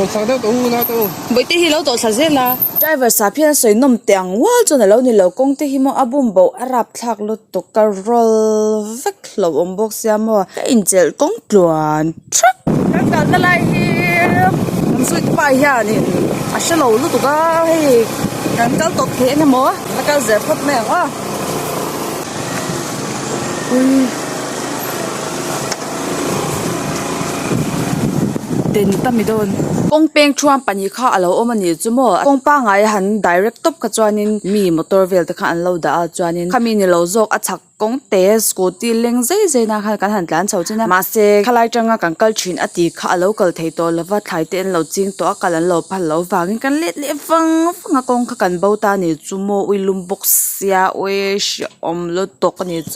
Tawlhsak deuh tawh u Nate u. Bawihte hi a lo tawlhsak zel a. Driver sa phian a sawi nawm teh ang ual chuan a lo ni lo. Kawngte hi maw a bum boh a rap thlak lutuk ka rawl vek hlauh awm bawk sia maw ka inchelh kawng tluan thap. Kan kalna lai hi kan zuite pa hian in a hre lo lutuk a hei kan kal tawp theih emaw a kal zel phawt mai ang a. den ta mi dawn kawng peng thuam pahnih kha a lo awm a nih chu maw kawng pangai a han direct tawp kha chuanin mi motor vel te khan an lo dah a chuanin khami ni lo zawk a chhak kawng te scooty leng zai zai nan khan kan han tlan chho chin a mahse khalai tanga kan kal thin a tih kha a lo kal thei tawh lo va thlai te an lo ching tawh a kal an lo phal loh vangin kan let leh vang vang a kawng kha kan bo ta a nih chu maw ui lum bawk sia awee hriaawm lutuk a nih chu.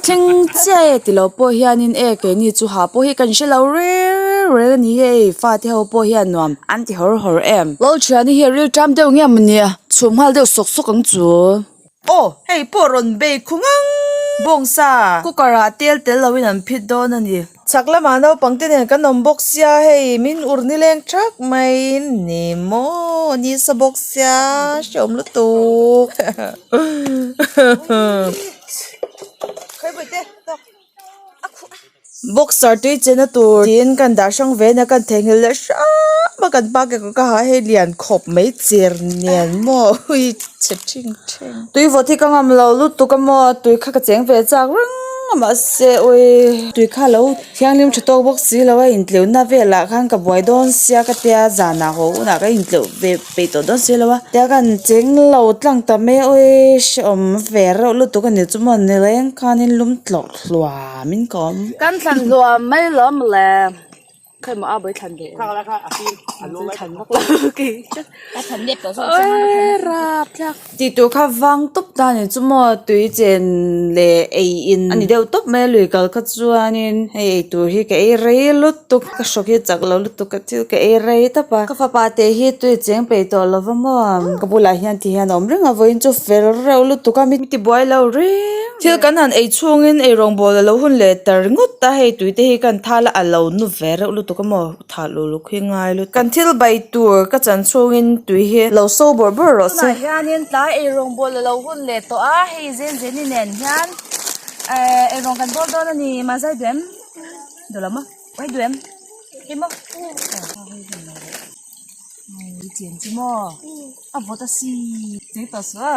Thleng chiah e ti lo pawh hianin e keini chu ha pawh hi kan hre lo rêl rêl a ni e i fate ho pawh hian nuam an ti hawr hawr em lo ṭhian hi ril ṭâm deuh nge maw nia chhum nghal deuh sawk sawk ang chu aw hei pawh rawn bei khaw ngang bawngsa cooker ah tel tel lo in an phit dawn a ni. Chhak lamah naupang te nen kan awm bawk sia hei min ur ni leng thak maiin ni maw ni sa bawk sia hre awm lutuk boxer tui chenna tur niin kan dah hrang ve nia kan theihnghilh leh hrang a kan pakek ka ha hei lian khawp mai cher nen maw -- Tuivaw thik ka ngam lo lutuk ka maw tui kha ka cheng ve chak rang a mah se ui tui kha lo thianghlim tha tawk bawk si lo a in tleuh na vel ah khan ka buai dawn sia ka tia zan ah haw un ah ka in tleuh ve peih tawh dawn si lo a tia kan cheng lo tlang ta mai a ui hreawm ve reuh lutuk a ni chu maw ni leng khan in lum tlawh hluam in ka awm. Tihtur kha vang tawp tan in chu maw tui chen leh ei in a ni deuh tawp mai a lui kal kha chuanin hei eitur hi ka ei rei lutuk ka shock hi chak loh lutuk ka thil ka ei rei tap a ka fapa te hi tui cheng peih tawh lo va maw ang ka bulah hian ti hian a awm reng a vawiin chu fel reuh lutuk a mi tibuai lo reng. Thil kan han ei chungin eirawngbawl a lo hun leh tar ngawt a, hei tuite hi kan tha la a lo nu ve reuh lutuk a maw, thah luh luh khi ngai lutuk. Kan thil bai tur ka chan chungin tui hi a lo so bawrh bawrh rawh se. Tunah hianin tlai eirawngbawl a lo hun leh tawh a, hei zel zel i nen hian eh eirawng kan bawl dawn a ni, mahse hei duem duh lam a, hei duem hi maw a vawt a si, chei tawh suh a.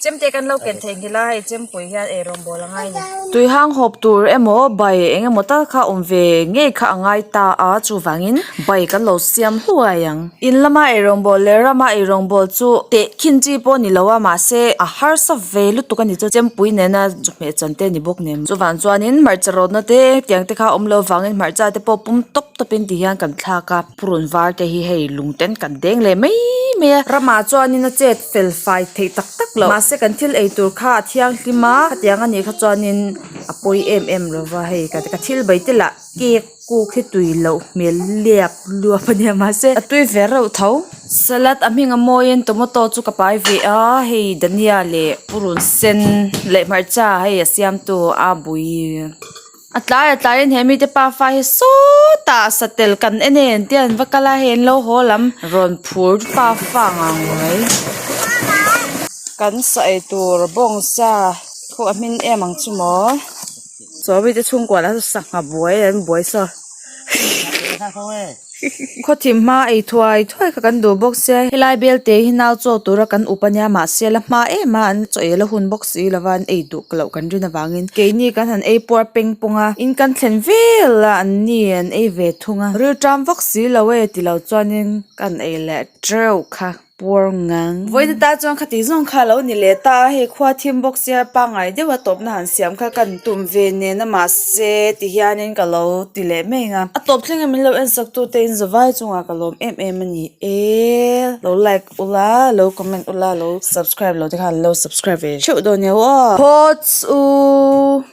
Chemte kan lo ken thei nghil a, hei chempui hian ei rawng bawl a ngai ni. Tuihang hawp tur emaw bai eng emaw tal kha awm ve ngei kha a ngai ta a, chuvangin bai kan lo siam hluai ang. In lama ei rawng bawl leh rama ei rawng bawl chu teh khin chi pawh ni lo a, mahse a harsa ve lutuk a ni chu chempui nena chawhmeh chan te a ni bawk nem. Chuvang chuanin hmarcha rawtna te tiang te kha awm lo vangin hmarcha te pawh pum tawp tawpin ti hian kan thlak a, purun var te hi hei lungten kan deng leh mai mai a, rama chuanin a chet. felfai theih tak tak loh mahse kan thil ei tur kha a thianghlim a hetiang a nih kha chuanin a pawi em em lo va hei ka ka thil bai tel ah cake kuk hi tui loh hmel liak luap a nia mahse a tui ve reuh tho salad a hming a mawiin tomato chu ka pai ve a hei dania leh purun sen leh hmarcha hei a siamtu a bui-- A tlai a tlai in he mite pa fa hi sawta satel kan en e ang tih ang va kal a hei an lo haw lam rawn phur pa fa ang ang mai kan saw ei tur bawng sa khuh a hming em ang chu maw sawrite chhungkua lah saw sangha buai an buai saw. Khawthim hma ei thuai thuai kha kan duh bawk sia helai belte hi nau chawk tura kan up ania mahse la hma em a an chawehla hun bawk si lova an ei duh loh kan rin avangin keini kan han ei puar peng pawng a in kan thlen vel a an ni an ei ve thung a rilṭam vak si lo e tilo chuanin ka han ei leh ṭeuh kha. puar ngang. Vawiina ta chuan khati zawng kha lo ni leh ta a, hei khua thim bawk sia pangngai deuh a tawpna han siam kha ka han tum ve nena mahse ti hianin ka lo ti leh meng a, a tawp thleng a min lo en sak tu te'n zavai chungah ka lawm em em a ni e, lo like u la, lo comment u la, lo subscribe lo te khan lo subscribe ve theuh dawn nia aw. Thawts u.